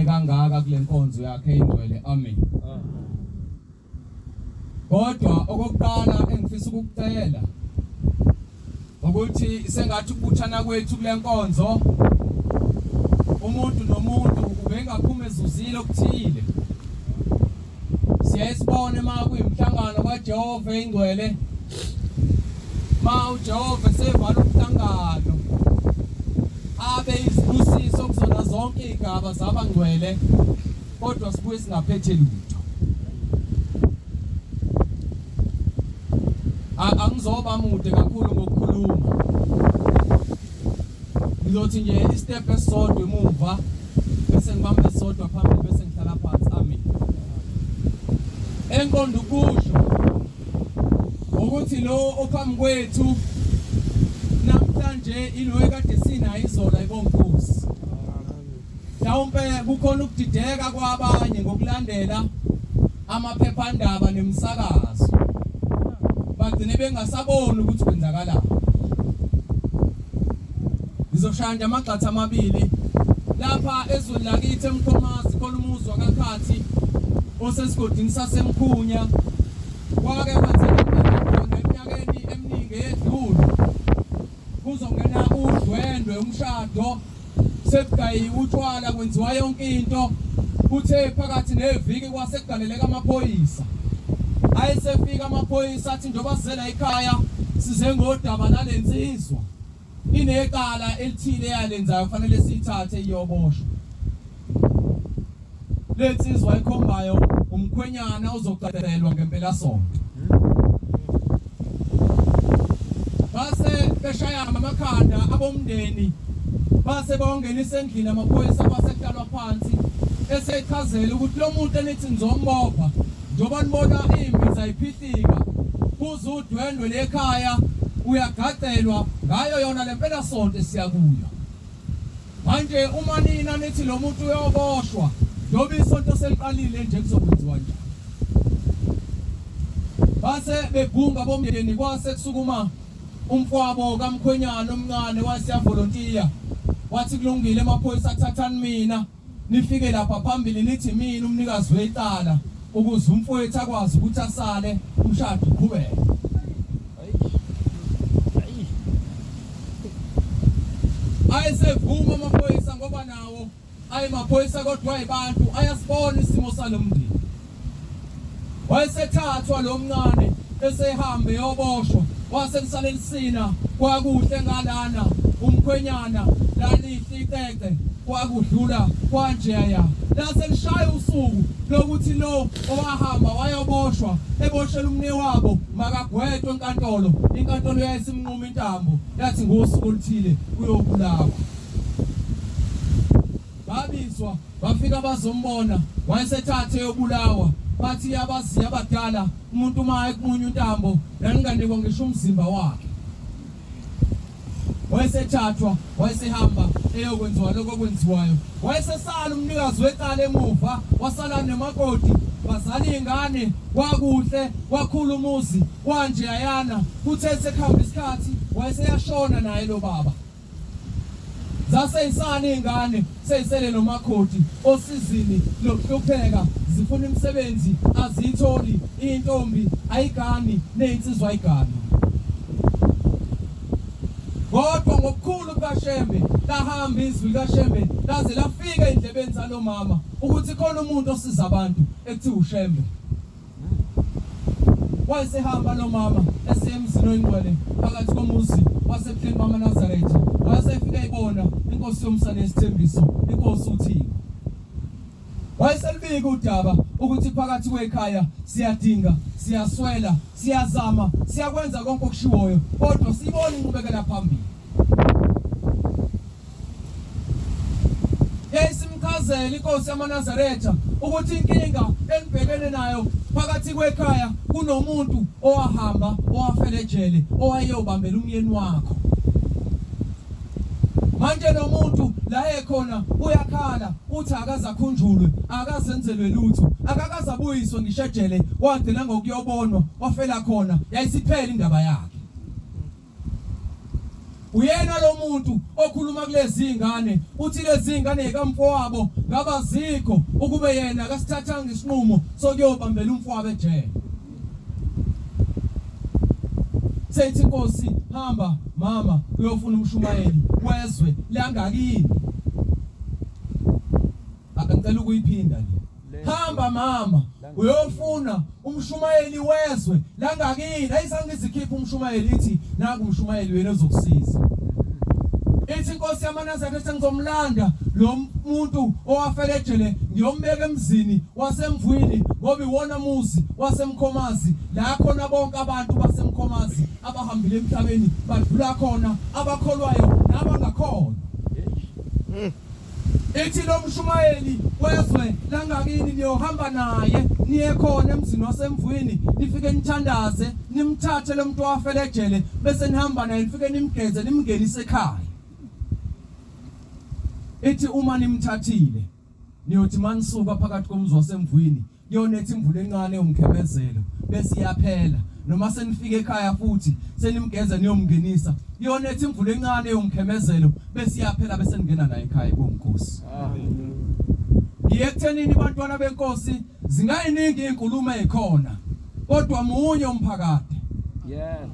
kangaka kule nkonzo yakhe ingcwele amen kodwa okokuqala engifisa ukukucela ukuthi sengathi ukubuthana kwethu kule nkonzo umuntu nomuntu ubengaphuma ezuzile okuthile siyaye sibone uma kuyimhlangano kajehova eyingcwele ma ujehova esevala umhlangano abe izibusiso kuzona zonke iy'gaba zabangcwele kodwa sibuye singaphethe lutho angizoba mude kakhulu ngokukhuluma ngizothi nje istep esisodwa emuva bese ngibamba esisodwa phambili bese ngihlala phansi amen enqondo ukusho ukuthi lo ophambi kwethu namhlanje ilo ekade sinayo izola ibonkosi mhlawumbe kukhona ukudideka kwabanye ngokulandela amaphephandaba nemisakazo bagcine bengasaboni ukuthi kwenzakalani ngizoshaya nje amagxatha amabili lapha ezweni lakithi emkhomazi khona umuzi wakakhathi osesigodini sasemkhunya kwake kwenzeka khona eminyakeni eminingi eyedlule kuzongena udwendwe umshado sekugayiwe utshwala kwenziwa yonke into kuthe phakathi neviki kwase kugaleleka amaphoyisa ayesefika amaphoyisa athi njengoba sizela ekhaya size ngodaba nale nsizwa inecala elithile yalenzayo kufanele siyithathe iyoboshwa Le nsizwa ayikhombayo umkhwenyana ozocacelwa ngempelasonto. Base beshayana amakhanda abomndeni base bawangenisa endlini amaphoyisa base kuhlalwa phansi esechazela ukuthi lo muntu enithi nizombopha njengoba nibona imbiza iphihlika kuze udwendwe lekhaya uyagacelwa ngayo yona le mpelasonto esiya kuyo. Manje uma nina nithi lo muntu uyoboshwa njengoba isonto seliqalile nje kuzokwenziwa njani? Base begunga bomndeni kwase kusukuma umfwabo kamkhwenyana omncane waseyavolontiya wathi kulungile emaphoyisa athathani mina Nifike lapha phambili nithi mina umnikazi wecala ukuze umfowethu akwazi ukuthi asale umshado uqhubeke. Ayesevuma amaphoyisa ngoba nawo ayemaphoyisa kodwa ayibantu ayasibona isimo salomndeni. Wayesethathwa lo mncane esehambe yoboshwa wase kusale lisina kwakuhle ngalana umkhwenyana lalihle icece kwakudlula kwanjeya lase lishaya usuku lokuthi lo owahamba wayoboshwa eboshela umne wabo makagwetwe enkantolo inkantolo yayisimnquma intambo yathi ngosuku oluthile uyobulawa Babizwa bafika bazombona wayesethathe yobulawa bathi yabaziya abadala umuntu uma ekumunya untambo laninganikwa ngisho umzimba wakhe wayesethathwa wayesehamba eyokwenziwa lokho okwenziwayo wayesesala umnikazi wecala emuva wasala nemakoti bazala iy'ngane kwakuhle kwakhula umuzi kwanje ayana kuthe sekuhamba isikhathi wayeseyashona naye lo baba Zaseyisani izingane seyisele nomakoti osizini lokuhlupheka zifuna imisebenzi aziyitholi intombi ayigani nezinsizwa ayigani. Kodwa ngokukhulu kukaShembe lahamba izwi likaShembe laze lafika endlebeni zalomama ukuthi khona umuntu osiza abantu ekuthiwa uShembe. Wayesehamba lo mama esiya emzini oyingcwele phakathi komuzi wasebuhleni bamaNazaretha. Wayesefika ibona inkosi yomsa nesithembiso, inkosi uThixo. Wayeselibika udaba ukuthi phakathi kwekhaya siyadinga, siyaswela, siyazama, siyakwenza konke okushiwoyo, kodwa siyibona inqubekela phambili. yayisimchazela inkosi yamaNazaretha ukuthi inkinga enibhekene nayo phakathi kwekhaya kunomuntu owahamba owafela ejele owayeyobambela umyeni wakho manje lo muntu la ekhona uyakhala uthi akazakhunjulwe akazenzelwe lutho akakazabuyiswe ngishejele wagcina ngokuyobonwa wafela khona yayisiphela indaba yakhe Uyena lo muntu okhuluma kulezi zingane uthi lezi zingane yikamfowabo ngabazikho ukube yena akasithathanga isinqumo sokuyobambela umfowabo ejele. Sethi inkosi hamba mama uyofuna umshumayeli wezwe langakini. Akacela ukuyiphinda le. Hamba mama uyofuna umshumayeli wezwe langakini ayisangizikhipha umshumayeli ithi naku umshumayeli wena ozokusiza ithi inkosi yamanazareth ethi ngizomlanda lo muntu owafela ejele ngiyombeka emzini wasemvwini ngoba iwona muzi wasemkhomazi la khona bonke abantu basemkhomazi abahambile emhlabeni badlula khona abakholwayo nabangakhona Ithi lo mshumayeli wezwe langakini niyohamba naye niye khona emzini wasemvwini nifike nithandaze nimthathe lo muntu owafela ejele bese nihamba naye nifike nimgeze nimngenise ekhaya ithi uma nimthathile niyothi manisuka phakathi komzi wasemvwini Yona ethi imvula encane umkhemezelo bese iyaphela noma senifika ekhaya futhi senimgeza niyomngenisa yona ethi imvula encane yomkhemezelo bese iyaphela bese ningena naye ekhaya konkosi ngiyekuthenini bantwana benkosi zingayiningi inkulumo ekhona kodwa munye umphakade yeah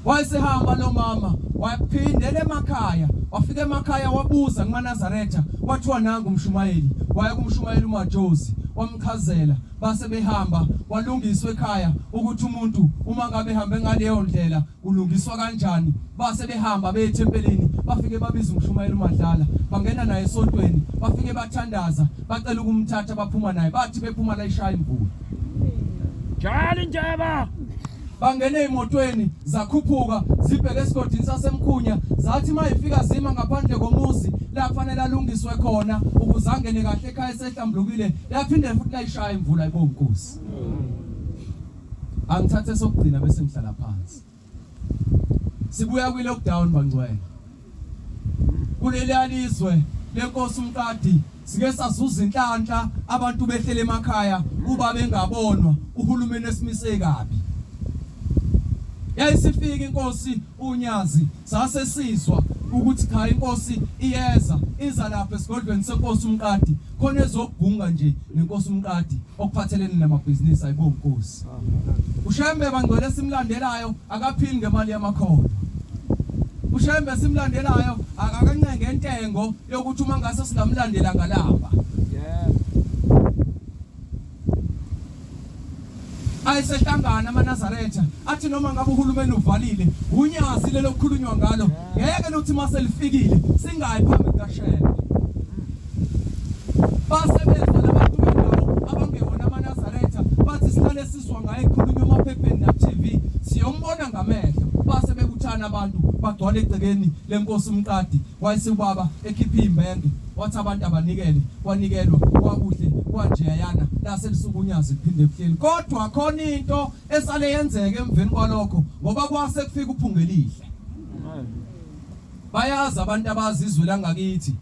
Wayesehamba lo mama waphindela emakhaya, wafika emakhaya wabuza kumaNazaretha, kwathiwa nangu umshumayeli. Waya kumshumayeli uMajozi wamchazela, base behamba kwalungiswa ekhaya ukuthi umuntu uma ngabe ehambe ngaleyo ndlela ulungiswa kanjani. Base behamba beye ethempelini, bafike babiza umshumayeli uMadlala, bangena naye esontweni, bafike bathandaza, bacela ukumthatha, baphuma naye, bathi bephuma la ishaya imvula. Jali njeba! bangene emotweni zakhuphuka zibheke esigodini sasemkhunya zathi mayifika zima ngaphandle komuzi lafanele alungiswe khona ukuze angene kahle ekhaya esehlambulukile yaphinde futhi layishaya imvula ibonkosi angithathe sokugcina bese ngihlala phansi sibuya kwi lockdown bangcwele Kuleliya lizwe lenkosi uMqadi sike sazuza inhlanhla abantu behlele emakhaya kuba bengabonwa uhulumeni esimise kabi. Yayisifika inkosi uNyazi sase sizwa ukuthi cha inkosi iyeza iza lapha esigodlweni senkosi uMqadi khona ezogunga nje nenkosi uMqadi okuphathelene namabhizinisi ayibo Nkosi uShembe bangcwele simlandelayo akaphili ngemali yamakhono uShembe simlandelayo akancenge intengo yokuthi uma ngase singamlandela ngalamba ayisehlangana amanazaretha athi noma ngabe uhulumeni uvalile unyazi lelokukhulunywa ngalo ngeke luthi mase lifikile singayi phambi kaShembe wagcwala egcekeni lenkosi umqadi wayise ubaba ekhipha imbenge wathi abantu abanikele wanikelwa kwakuhle kwanjeyana lase lisukunyazi kuphinde kuhleli kodwa khona into esale yenzeke emveni kwalokho ngoba kwase kufika uphungelihle bayazi abantu abazizwe langakithi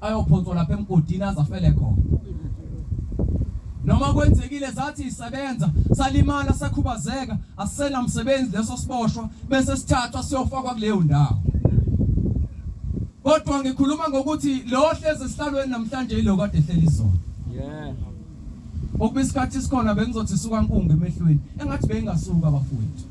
ayophonswa lapha emgodini azafele khona noma kwenzekile zathi isebenza salimala sakhubazeka asisena msebenzi leso siboshwa bese sithathwa siyofakwa kuleyo ndawo kodwa ngikhuluma ngokuthi lo hlezi esihlalweni namhlanje yilo kade ehleli izona yeah Ngokuba isikhathi isikhona bengizothi suka nkungu emehlweni engathi beyingasuka abafowethu.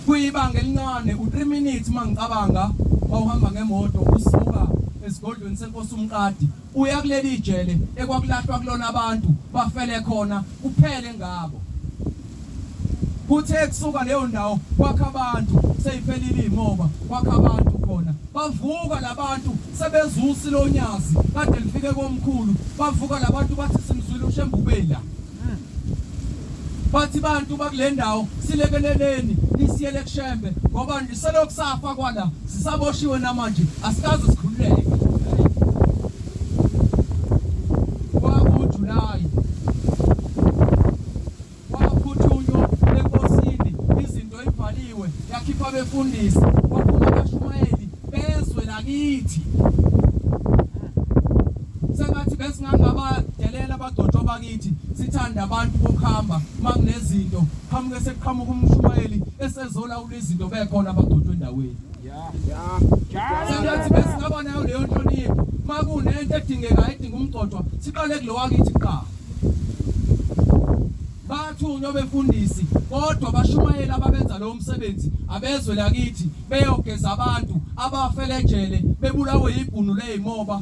Kuyibanga elincane u3 minutes mangicabanga wawuhamba ngemoto usuka esigodlweni senkosi umqadi uya kuleli ijele ekwakulahlwa kulona abantu bafele khona Kuphele ngabo. Kuthe kusuka leyo ndawo kwakha abantu seyiphelile imoba kwakha abantu khona bavuka labantu sebezusi lonyazi kade lifike komkhulu bavuka labantu bathi simzwile ushembubela bathi bantu bakule ndawo silekeleleni nisiyele kushembe ngoba selokhu safa kwala sisaboshiwe namanje asikaze sikhululeke abefundisi kwaphuma abashumayeli bezwe lakithi sengathi besingangabadelela abadotshwa bakithi sithanda abantu bokuhamba uma kunezinto qhamuke sekuqhamuka umshumayeli esezolawula izinto bekhona abadotshwa endaweni Singathi besingaba nayo leyo nhlonipho uma kunento edingekayo edinga umgcotshwa siqale kulowakithi kuqala bathunywa befundisi kodwa bashumayeli ababenza lowo msebenzi abezwe lakithi beyogeza abantu abafele ejele bebulawe yibhunu leyimoba